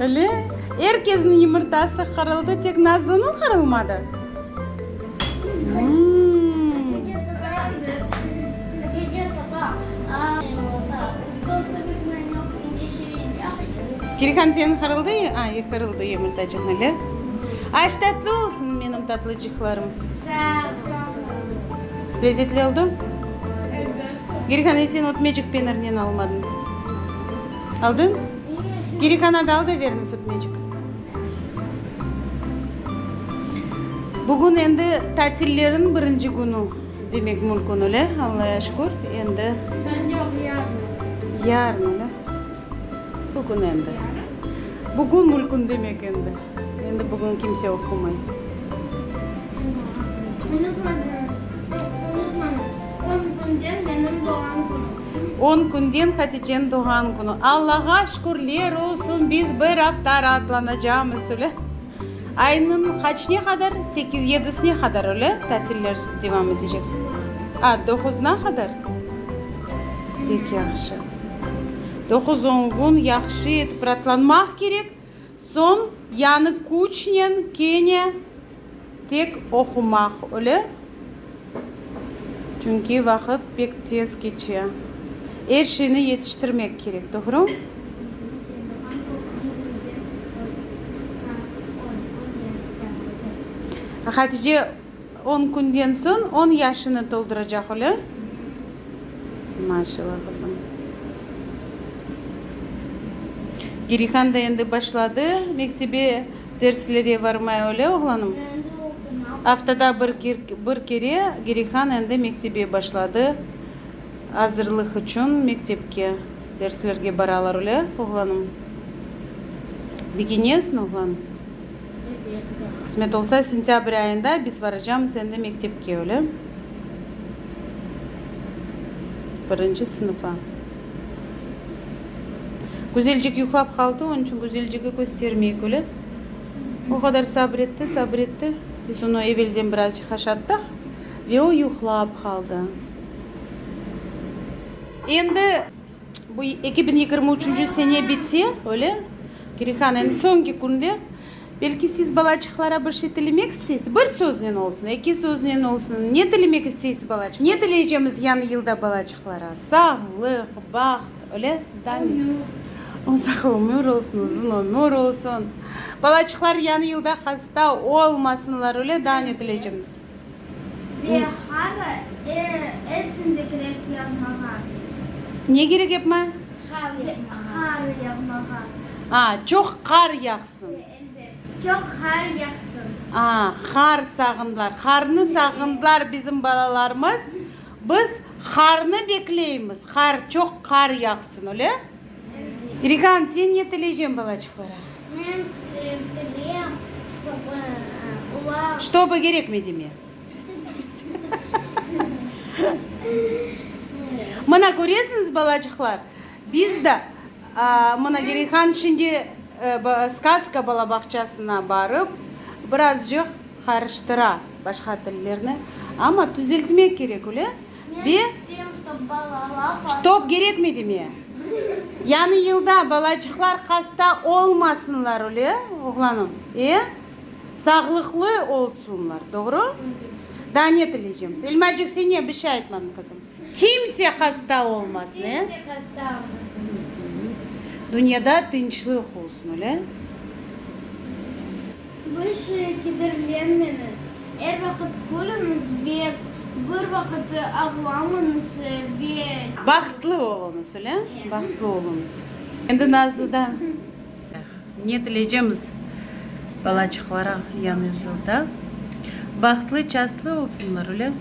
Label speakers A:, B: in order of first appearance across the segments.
A: Öyle? Er kesniñ yımırtası qırıldı, tek Nazlınıñ qırılmadı? Kirhan, seniñ qırıldı? Qırıldı yımırtacıqnı, öyle? Aş tatlı olsun, menim tatlıcıqlarım. Lezetli oldı? Kirhan, e sen ötmecik penirnen almadıñ? Aldıñ? Girikana dal da verin sütmecik. Bugün endi tatillerin birinci künü demek mülkün öyle, Allaya şükür, endi. Bugün yoq, yarın. Yarın öyle. Bugün endi. Bugün mülkün demek endi. Endi bugün kimse oqumay. Unutmadınız, unutmañız, on künden menim doğğan künüm. On künden Hatice'niñ doğğan künü. Allağa şükürler olsun, biz bir afta raatlanacamız, öyle. Aynıñ qaçne qadar? Sekiz, yedisine qadar, öyle, tatiller devam etecek. A, doquzına qadar? Pek yahşı. Doquz-on kün yahşı etip raatlanmaq kerek. Soñ yañı küçnen kene tek oqumaq öyle, çünki vaqıt pek tez keçe. Er şeyni yetiştirmek kerek, doğru? On künden soñ on yaşını tolduracaq öyle. Maşallah qızım. Gerihan da endi başladı mektebe derslere varmaya öyle oğlanım? Endi oqumağa. Aftada bir kere Gerihan endi mektebe başladı. Azırlıq içün mektepke derslerge baralar öyle oğlanım? Begenesen oğlan? Qısmet olsa, sentâbr ayında biz varacamız endi mektepke, öyle? Birinci sınıfa. Güzelcik yuqlap qaldı, onıñ içün Güzeljigi köstermeyik, öyle? O qadar sabır etti, sabır etti. Biz onı evelden birazcıq haşattıq ve o yuqlap qaldı. Endi Bu eki biñ yigirmi üçünci sene bitse, öyle? Kirihan, endi soñki künler. Belki siz balaçıqlara bir şey tilemek isteysiz? Bir söznen olsun, eki söznen olsun. Ne tilemek isteysiz balaçıqlara? Ne tileycemiz yañı yılda balaçıqlara? Sağlıq, baht, öyle? Daa ne? Ömür. Uzaq ömür olsun, uzun ömür olsun. Balaçıqlar yañı yılda hasta olmasınlar, öyle? Daa ne tileycemiz? Ve hara epsinde kerek yapmağa. Ne kerek yapma? Hara yapmağa. Hara yapmağa. A, çoq qar yağsın. Ve elbet. Çoq qar yağsın. A, qar sağındılar. Qarnı sağındılar bizim balalarımız. Biz qarnı bekleymiz. Qar, çoq qar yağsın, öyle? Rigan, sen ne tileycen balaçıqlara? Men tileyem, ştobi olar. Ştobi gerekmey deme. Mına köresiñiz, balaçıqlar, biz de mına Rigan şimdi Skazka balabağçasına barıp, birazcıq qarıştıra başqa tillerni, amma tüzeltmek kerek, öyle? Ve Ştob gerekmedi mi? Yañı yılda balacıqlar hasta olmasınlar, öyle, oğlanım? E? Sağlıqlı olsunlar, doğru? Daa ne tileycemiz? Elmacıq, sen ne, bir şey aytmadın, qızım. Kimse hasta olmasın, e? Kimse hasta olmasın. Dünyada tınçlıq olsun, öyle? Biz kederlenmeniz, er vaqıt külüniz ve bir vaqıt ağlamınız ve. Bahtlı oluñız, öyle? Bahtlı oluñız. Endi Nazlıdan. Eh, ne tileycemiz balacıqlara Yañı yılda? Bahtlı, şanslı olsunlar, öyle?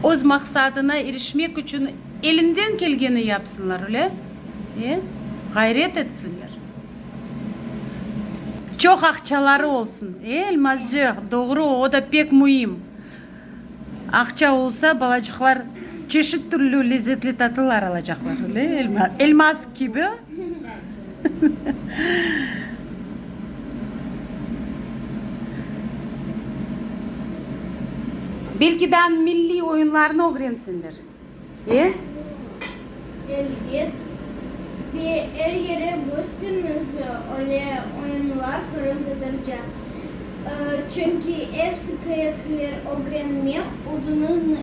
A: Öz maqsadına irişmek içün elinden kelgeni yapsınlar, öyle? E, ğayret etsinler. Çoq aqçaları olsun. Elmazcıq, doğru, o da pek müim. Aqça olsa, balacıqlar çeşit türlü lezzetli tatlılar alacaqlar, öyle elma, elmaz kibi. Belki de milliy oyunlarnı ögrensinler. E? Elbet. Ve er yere gösteriniz öyle oyunlar qırım tatarca. Çünki epsi kerekler ögrenmek, özüniñ